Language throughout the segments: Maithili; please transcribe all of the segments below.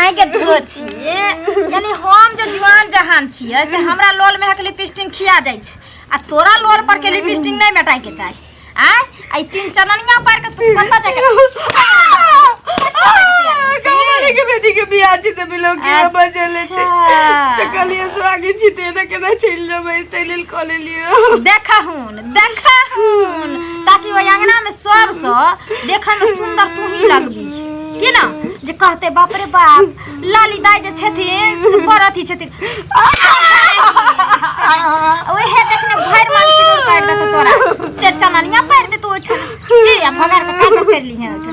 आइ के दूगो छिए यानी हम जे जुआन जहान छिए से हमरा लोल में हक लिपस्टिक खिया जाइ छै आ तोरा लोल पर के लिपस्टिक नहीं मेटाय के चाही आय आई तीन चननिया पर के तू पता जाके कमरे के बेटी के बियाह छी त बिलो के अच्छा। बजले छै त कहलिए स्वागत छी तेरे के ना चल जबै तै लेल कॉल लियो देखा हूँ देखा हुन ताकि ओहि अंगना में सब स देखे में सुंदर तू ही लगबी कि ना जे कहते बाप रे बाप लाली दाई जे छथिन से बड़ अथी छथिन ओहे देखने भर मान से दूर कर देतो तोरा चार चननिया पैर दे तू उठ के या भगार के काजर कर ली है उठ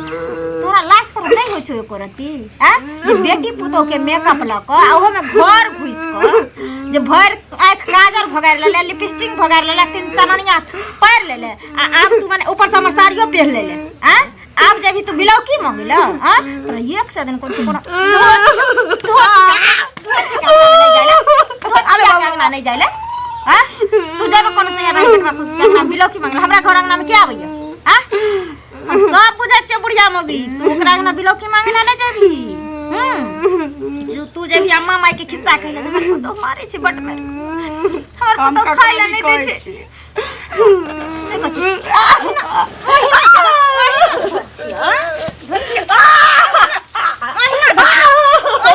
तोरा लाज सर नहीं हो छो एको रति हैं जे बेटी पुतो के मेकअप लक आ ओहो में घर घुस क जे भर आँख काजर भगार ले ले लिपस्टिक भगार ले ले तीन चननिया पैर ले ले आ आब तू माने ऊपर से हमर साड़ियो पहन ले ले हैं आब जब तू बिलाउ की मांगे ले हां तो एक से दिन कोन कोन नहीं जाइले हां तू जब कोन से यार पेट में कुछ बिलाउ की मांगे हमरा घर अंगना में क्या आबैया हां हम सब बुझै छियै बुढ़िया मौगी तू ओकरा अंगना बिलौकी मांगे ना ले जेबी हम्म जो तू जेबी अम्मा माई के खिस्सा कहले हमर तो मारे छै बट में हमर हम तो ककरो खाय ला नहीं कहै दे छै छियै। देखो छी।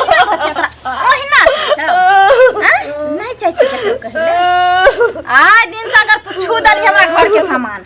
ओहिना नहीं चाहे छी ककरो कहै ले। आइ दिन से अगर तू छू देली हमरा घर के सामान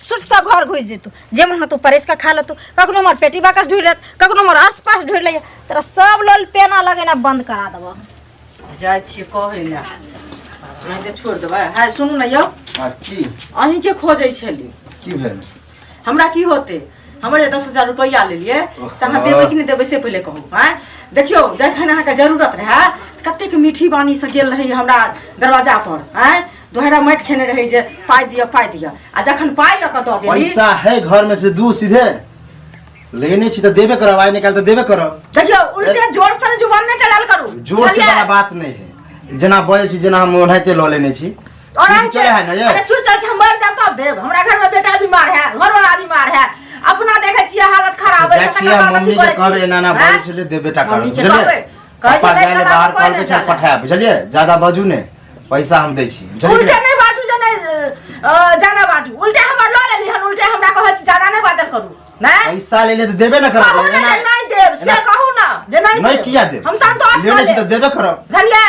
सुट सब घर घुस जेतू जे मन तू परेश का खा लेतू कखनो हमर पेटी बाकस ढूंढ लेत कखनो हमर आस पास ढूंढ ले तोरा सब लोल पेना लगेना बंद करा देबो जाइ छियै कहै लए अहाँके छोड़ि देबै है सुनू ने यौ आ की अहींके खोजै छली की भेल हमरा की होते हमर जे दस हजार रुपैआ लेलियै से अहाँ देबै कि नहि देबै से पहिले कहू आँय देखियौ जखन अहाँके जरूरत रहए तऽ कतेक मीठी बानीसँ गेल रही हमरा दरवाजा पर आँय दोहरा माटि खेने रही जे पाइ दिअ पाइ दिअ आ जखन पाइ लऽ कऽ दऽ देली पैसा है घर में से दू सीधे लेने छी तो देबे करब आइ निकाल तो देबे करब देखियौ उल्टे जोर से ने जुबान नहि चलाल करू जोर से बुझलियै? बड़ा बात नहीं है जेना बजे छी जेना हम ओनाहिते लऽ लेने छी और सीधी चले है ना ये अरे सुर चल हम मर जाब तब देब हमरा घर में बेटा बीमार है घर वाला बीमार है अपना देखे छियै हालत खराब है जाइ तकर छियै बाद अथी मम्मी के करै कहबै छी। एना एना हैं? बजै छलै देबे टा करब मम्मी के बुझलियै कहबै कहै छै पापा नहि गेल तऽ बाहर बाबा कहलकै कहै चल छै। पठाय बुझलियै ज्यादा बाजू ने पैसा हम दै छी बुझलियै उल्टे नहि बाजू जे नहि अ, जादा बाजू उल्टे हमर लऽ लेली हन उल्टे हमरा कहै छी जादा नहि बाजल करू नहि पैसा ले ले तऽ देबे ने कहू करब ने जे एना- नहि देब से एना- कहू ने जे नहि नहि देब। किया देब हम संतोष लेने छी कऽ तऽ लेब देबे करब बुझलियै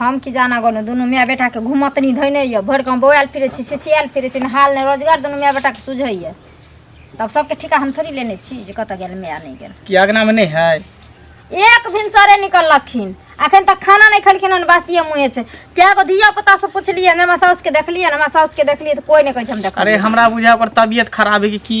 हम की जाना गनो दुनू माय बेटा के घुमतनी धैने ये भर गांव बौआल फिरे छी छिछियाल फिरे छी हाल ने रोजगार दुनू माय बेटा के सुझे ये तब सबके ठिका हम थोड़ी लेने छी जे कत गेल माय नहीं गेल कि अगना में नहीं है एक भिनसरे निकललखिन अखन तक खाना नहीं खेलखिन हन बासिए मुँहे छै क्या गो धिया पुता से पूछलिए हमरा साउस के देखलिए हमरा साउस के देखलिए तो कोई नहीं कहे हम देख अरे हमरा बुझा ओकर तबियत खराब है कि की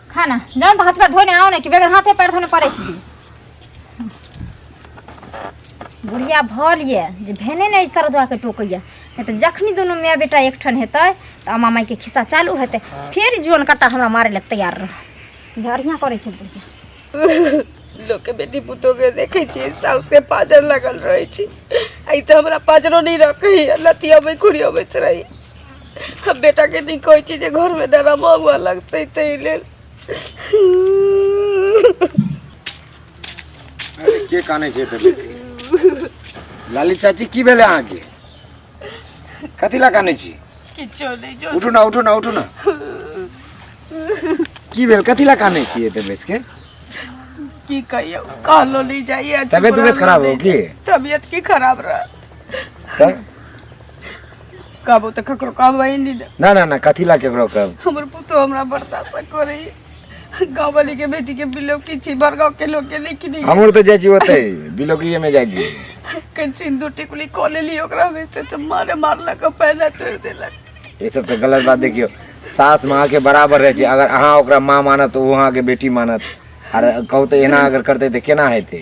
खाना जान तो हाथ पर धोने आओ ना कि बेगर हाथे पैर धोने पड़े छी बुढ़िया भऽ लिए जे भेने नहि सरदुआ के टोकैया नहि तऽ जखनी दुनू माय बेटा एकठन हेतै तऽ अम्मा मायके खिस्सा चालू हेतै फेर जुअन कट्टा हमरा मारे लए तैयार रह बढ़िया करै छै बुढ़िया लोग के बेटी पुतोह के देखे छी साउस के पाजर लगल रहे छी आई तो हमरा पाजरो नहीं रखे लतिया में खुरिया में रही हम बेटा के नहीं कोई चीज है, घर में डरा महुआ लगते ते ले अरे के काने छै तऽ बेसी लाली चाची की भेलै अहाँके कथी लऽ काने छी किछो नहीं जो उठू ना उठू ना उठू ना की भेल कथी लऽ काने छी एते बेस के की कहियो कहलो नहीं जाइए तबियत उबियत खराब हो की तबियत की खराब रहा का? कहबो तऽ ककरो कहबै नहि दे ना ना ना कथी ला केकरो कहब हमर पुतो हमरा बर्दाश्त करै गाँव वाली के बेटी के बिलो की छी भर गाँव के लोग के नहीं किनी हमर तऽ जाइ छी ओतै बिलोकिये में जाइ छी कहीं सिंदूर टिकुली कऽ लेली ओकरा में से तऽ मारे मारलक आ पैना तोड़ देलक ई सब तऽ गलत बात देखियौ सास माँ के बराबर रहै छै अगर अहाँ ओकरा माँ मानत तऽ ओ अहाँके बेटी मानत आर कहू तऽ एना अगर करतै तऽ केना हेतै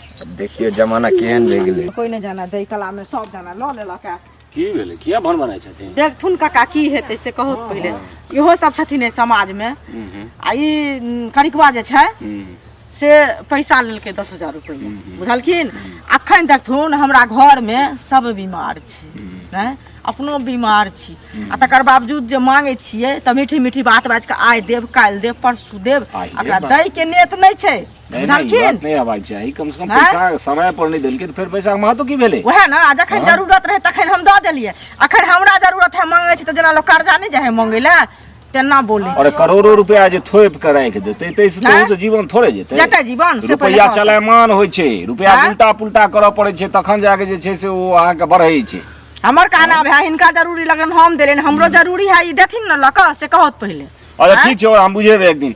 अब देखियो जमाना केहन भए गेलै कोई नहीं जाना दे कला में सब जाना लो ले लका की भेलै किया भन बनाइ छथिन देखथुन काका की हेतै से कहू तऽ पहिले इहो सब छथिन एहि समाज में आ ई उम, करिकवा जे छै से पैसा लेलकै दस हजार रुपैआ बुझलखिन अखन देखथुन हमरा घर में सब बीमार छै हैं? अपनो बीमार छी आ तकर बावजूद जे मांगे छियै तऽ मीठी मीठी बात बाजि कऽ आइ देब काल्हि देब परसू देब आइए एकरा बात। दै के नेत नहि छै नहीं नहीं जानथिन? बात नहीं आवाज छै ई कम से कम हैं? पैसा समय पर नहीं देलकै त फेर पैसा के महत्व की भेलै वएह ने आ जखन जरूरत रहै तखन हम दऽ देलियै अखन हमरा जरूरत है मांगै छै तऽ जेना लोक कर्जा नहि जाइ है मांगै लए तेना बोलै छै। अरे करोड़ों रुपया जे थोप के राखि देतै तै से हैं? तोहूँ से जीवन थोड़े जेतै जेतै जीवन से पहिले रुपया कहू। चलायमान होइ छै रुपया हैं? उल्टा पुल्टा करऽ पड़ै छै तखन जाके जे छै से ओ अहाँके बढ़ै छै हमर कहना अब है हिनका जरूरी लगन हम देलियनि हमरो जरूरी है ई देथिन ने लऽ कऽ से कहत पहिले अच्छा हैं? ठीक छै हम बुझेबै एक दिन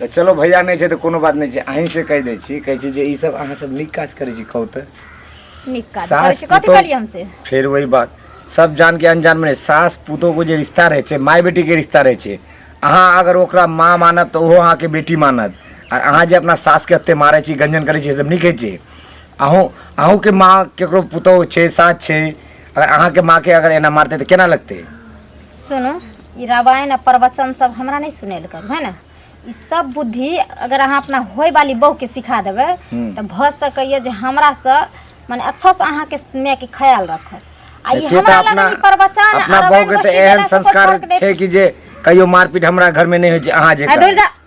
तऽ चलो भैया नहि छै तऽ कोनो बात नहि छै अहीं से कहि दै छी कहै छी जे ई सब अहाँ सब नीक काज करै छी कहू तऽ नीक काज सास करै छी कथी पुतोह- करियै हमसे फेर वही बात सब जान के अनजान में सास पुतोह को जे रिश्ता रहे छे माय बेटी के रिश्ता रहे छे अहाँ अगर ओकरा माँ मानब तो ओहो अहाँ के बेटी मानत और अहाँ जे अपना सास के एते मारे छी गंजन करे छी सब नहीं कहे छी अहूँ अहूँ के माँ केकरो पुतोह छे सास छे अगर अहाँ के माँ के अगर एना मारते तो केना लगते सुनू ई रामायण आ प्रवचन सब हमरा नहीं सुने ले करू है ना ई सब बुद्धि अगर अहाँ अपना होय वाली बहू के सिखा देबे हम्म। तो भ सकैया जे हमरा से माने अच्छा से अहाँ के माय के ख्याल रखत आ ई से तऽ हमरा अपना लग ई प्रवचन अपना आ बहू रामायण के तऽ गोष्ठी एहन देला से कोई संस्कार फर्क नहि छै कि जे कहियो मारपीट हमरा घर में नहि होइ छै अहाँ जे है, करू। दुर्गा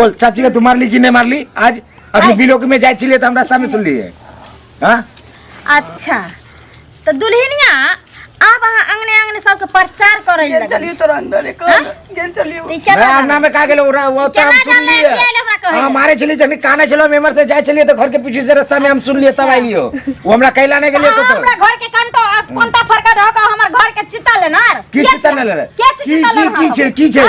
बोल चाची के तू मारली कि नहीं मारली आज अभी बिलोक में जाए छिले तो हम रास्ता में सुन लिए हाँ अच्छा तो दुल्हनिया अब अहाँ अंगने अंगने सबके प्रचार करे गेल लगल चलियो तोरा अंदर एक गेल चलियो ई क्या मैं बात अन्ना में का गेलो उरा वो तो हम केना सुन जानले लिए कि आइले हमरा कहे? हमारे छिले जने काना छिलो मेमर से जाए छिले तो घर के पीछे से रास्ता में हम सुन लिए तब आई लियो वो हमरा कहला नहीं गेलियो तो अहाँ हमरा घर के कंटो कोंटा फरका धो के हमर घर के चिता लेनार की चिता ले ले की चिता ले की की छे की छे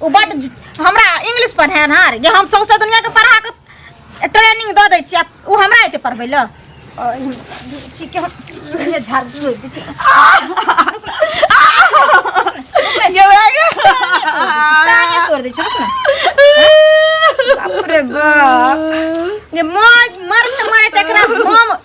ओ बड हमरा इंग्लिश पढ़े ना रे हम सौंसे दुनिया के पढ़ा के ट्रेनिंग द दै छी ओ हमरा एते पढ़बै ल ठीक है झाड़ दू ये हो गया ताने तोड़ दे छोड़ ना बाप रे बाप ये मर मर मरे तकरा हम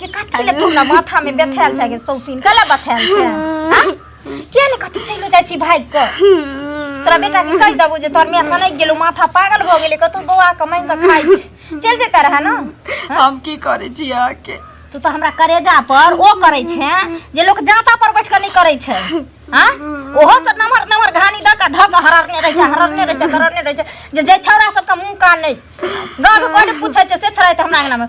के कथी ले तुमरा माथा में बैठाल छै के सौतीन कला बैठाल छै हाँ? किया ने कथी चलो जाइ छी भाग के तोरा बेटा के कहि देबो जे तोर माय सनक गेलो माथा पागल भ गेले कतौ बौआ के मांग के खाइ छै। चल जेता रहा ना हम की करे छी अहाँ के तू तो हमरा करेजा पर ओ करे छै जे लोग जाता पर बैठ के नहीं करे छै हां ओहो सब नमहर नमहर घानी द के धक हररने रहे छै हररने रहे छै हररने रहे छै जे जे छौरा सब के मुंह कान नहीं गांव में कोई पूछे छै से छौरा त हमरा अंगना में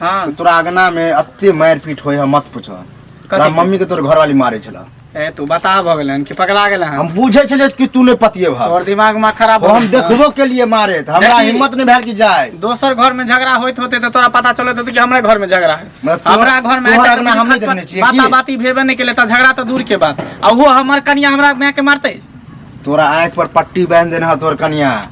हाँ तो तोरा अगना में अत्ते मार पीट होय है मत पूछो तोरा के? मम्मी के तोर घर वाली मारे छला ए तू बता भ गेलै हन कि पकड़ा गेलै हन हम बुझे छले कि तू ने पतिए भा तोर दिमाग में खराब हम देखबो के लिए मारे त हमरा देखी। हिम्मत नहीं भेल कि जाए दोसर घर में झगड़ा होइत होते तो तोरा पता चलत होते कि हमरे घर में झगड़ा है मतलब तोहर- हमरा घर में तोहर आइ तक अंगना हम नहीं देखने छियै बाता की? बाती भेबे नहीं केले त झगड़ा तो दूर के बात आ वो हमर कनिया हमरा माय के मारते तोरा आँख पर पट्टी बांध देना तोर कनिया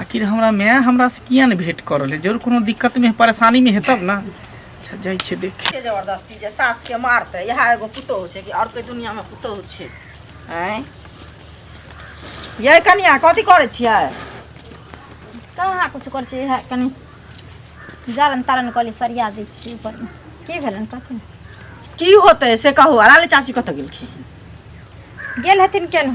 आखिर हमरा माय हमरा से किया ने भेंट कर रहे जरूर कोनो दिक्कत में परेशानी में है तब ना अच्छा जाइ छै देखे के जबरदस्ती जे सास के मारते इएह एगो पुतोहु छै कि आओर कोइ दुनिया में पुतोहु छै आँय यै कनिया कथी करै छियै कहाँ कुछ करै छियै इएह कनि जारन तारन कहली सरिया दै छियै ऊपर की भेलनि कथी की होतै से कहू अलाली चाची कतऽ गेलखिन गेल हेथिन केन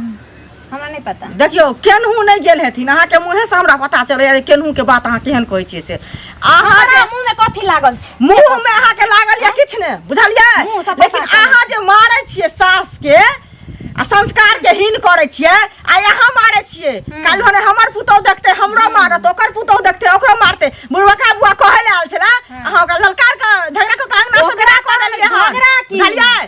हमरा नहि पता देखियौ केनहू नहि गेल हेथिन अहाँके मुँहे से हमरा पता चलैया जे केनहू के बात अहाँ केहन कहै छियै से अहाँके हमरा मुंह में कथी लागल छै मुंह में अहाँके लागल या किछु ने बुझलियै मुँह सब लेकिन पता चलै। अहाँ जे मारै छियै सास के आ संस्कार के हीन करै छियै आ अहाँ मारै छियै काल्हि भने हमर पुतौह देखते हमरो मारत ओकर पुतौह देखते ओकरो मारते बुढ़बका बुआ कहै ले आयल छला अहाँ ओकरा ललकार के झगड़ा के कांगना से ओकरा बिना कऽ देलियै हन झगड़ा की? बुझलियै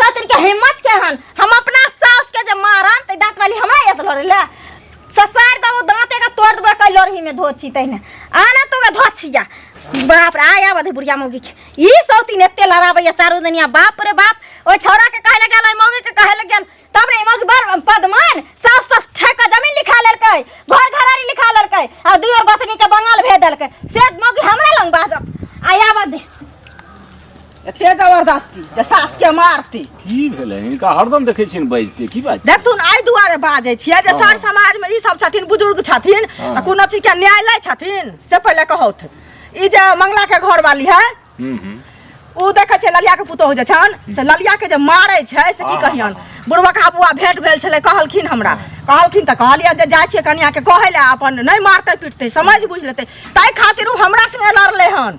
सतरी के हिम्मत के हन हम अपना सास के जे मारन त दांत वाली हमरा येत लरे ले ससार दबो दांते का तोड़ देबो कई लरही में धोची तइने आना तो का धोचिया बाप रे आया बधे बुढ़िया मौगी के ई सौती ने तेल लड़ाबैया चारू दुनिया बाप रे बाप ओइ छौरा के कहे लगल ओइ मौगी के कहे लगल तब रे ई मौगी बर पदमान सास सास ठेका जमीन लिखा लेलकै घर घरारी लिखा लेलकै आ दुई और गोतनी के बंगाल भेज देलकै से मौगी हमरा लंग बाजत आया बधे एते जबरदस्ती जे सास के मारती की भेलै हिनका हरदम देखै छियन बजते की बात देखथुन एहि दुआरे बाजै छियै जे सर समाज मे ई सब छथिन बुजुर्ग छथिन तऽ कोनो चीज के न्याय लै छथिन से पहिले कहौथ ई जे मंगला के घर वाली है हम्म, हम्म। ओ देखै छै ललिया के पुतोह जे छन से ललिया के जे मारै छै से की कहियन बुढ़वा का बुआ भेंट भेल छलै कहलखिन हमरा कहलखिन तऽ कहलियै जे जाइ छियै कनिया के कहै लए अपन नहि मारतै पीटतै समझ बुझ लेतै ताहि खातिर ओ हमरा संगे लड़लै हन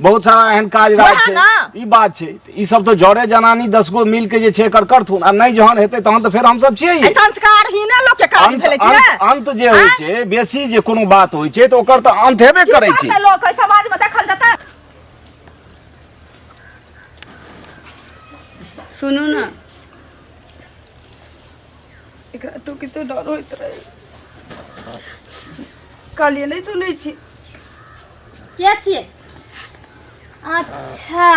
बहुत सारा एहन काज राज वएह छै ना। ई बात छै तऽ ई सब तो जरे जनानी दस गो मिल के जे छै एकर करथुन आ नहि जहन हेतै तहन तऽ फेर हमसब छियै ई। संस्कार ही ना लोग के काज अंत भेलै कि अंत- ने अंत जे होइ आँय? छै बेसी जे कोनो बात होइ छै तऽ ओकर तऽ अंत हेबे की करै छै करतै लोग एहि समाज में देखल जेतै सुनू ने एकरा तो कितो डर होइत रहे कहलिए नहीं सुनै छी के छियै अच्छा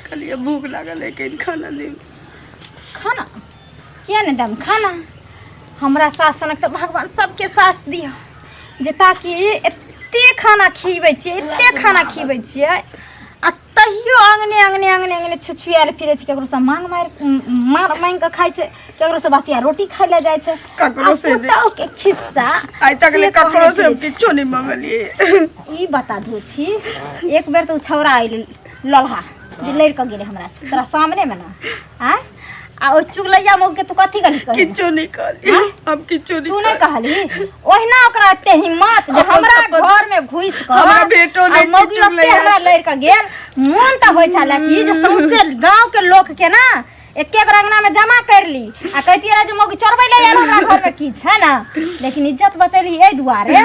कहलिए भूख लागल है कहीं खाना दे खाना किया नहीं दम खाना हमरा सास सनक तो भगवान सबके सास दियो जे ताकि एते खाना खिबै छियै एते खाना खिबै छियै तहियो अंगने अंगने अंगने अंगने छुछुआएल फिरे छै केकरो से मांग मार मार मांग के खाइ छै केकरो से बसिया रोटी खाइ ले जाइ छै ककरो से आ पुतहु के खिस्सा आइ तक ले से ककरो कहने से हम फिरे छै। किछो नहि मंगलिए ई बता दू छी एक बेर तऽ ओ छौड़ा आयल लल्हा जे लड़ि कऽ गेलै हमरा से तोरा सामने मे ने आँय आ ओ चुगलैया मौग के तू कथी कहली कहली? किछो नहीं कहली हाँ? हम किछो नहीं तू नहीं कहली ओहिना ओकरा एते हिम्मत जे अपन हमरा अपन- घर में घुस कर हमरा बेटो आ नहीं छै मौगी ओते चुगलैया। हमरा लड़ के गेल मोन तऽ होइ छले कि जे सौंसे गांव के लोक के ना एके बेर अंगना में जमा कर ली आ कहती रहे जे मौगी चोरबै ले यार हमरा घर में की छै ना लेकिन इज्जत बचेली एहि दुआरे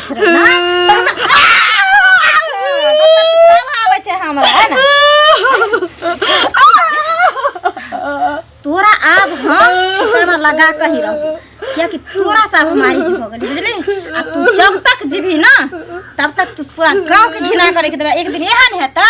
तोरा आब हम ठिकाना लगा के ही रहू कियाकि तोरा से आब हमारी जी हो गेली बुझली आ तू जब तक जीबी ना तब तक तू पूरा गांव के घिना करे के देबे एक दिन एहन हेतै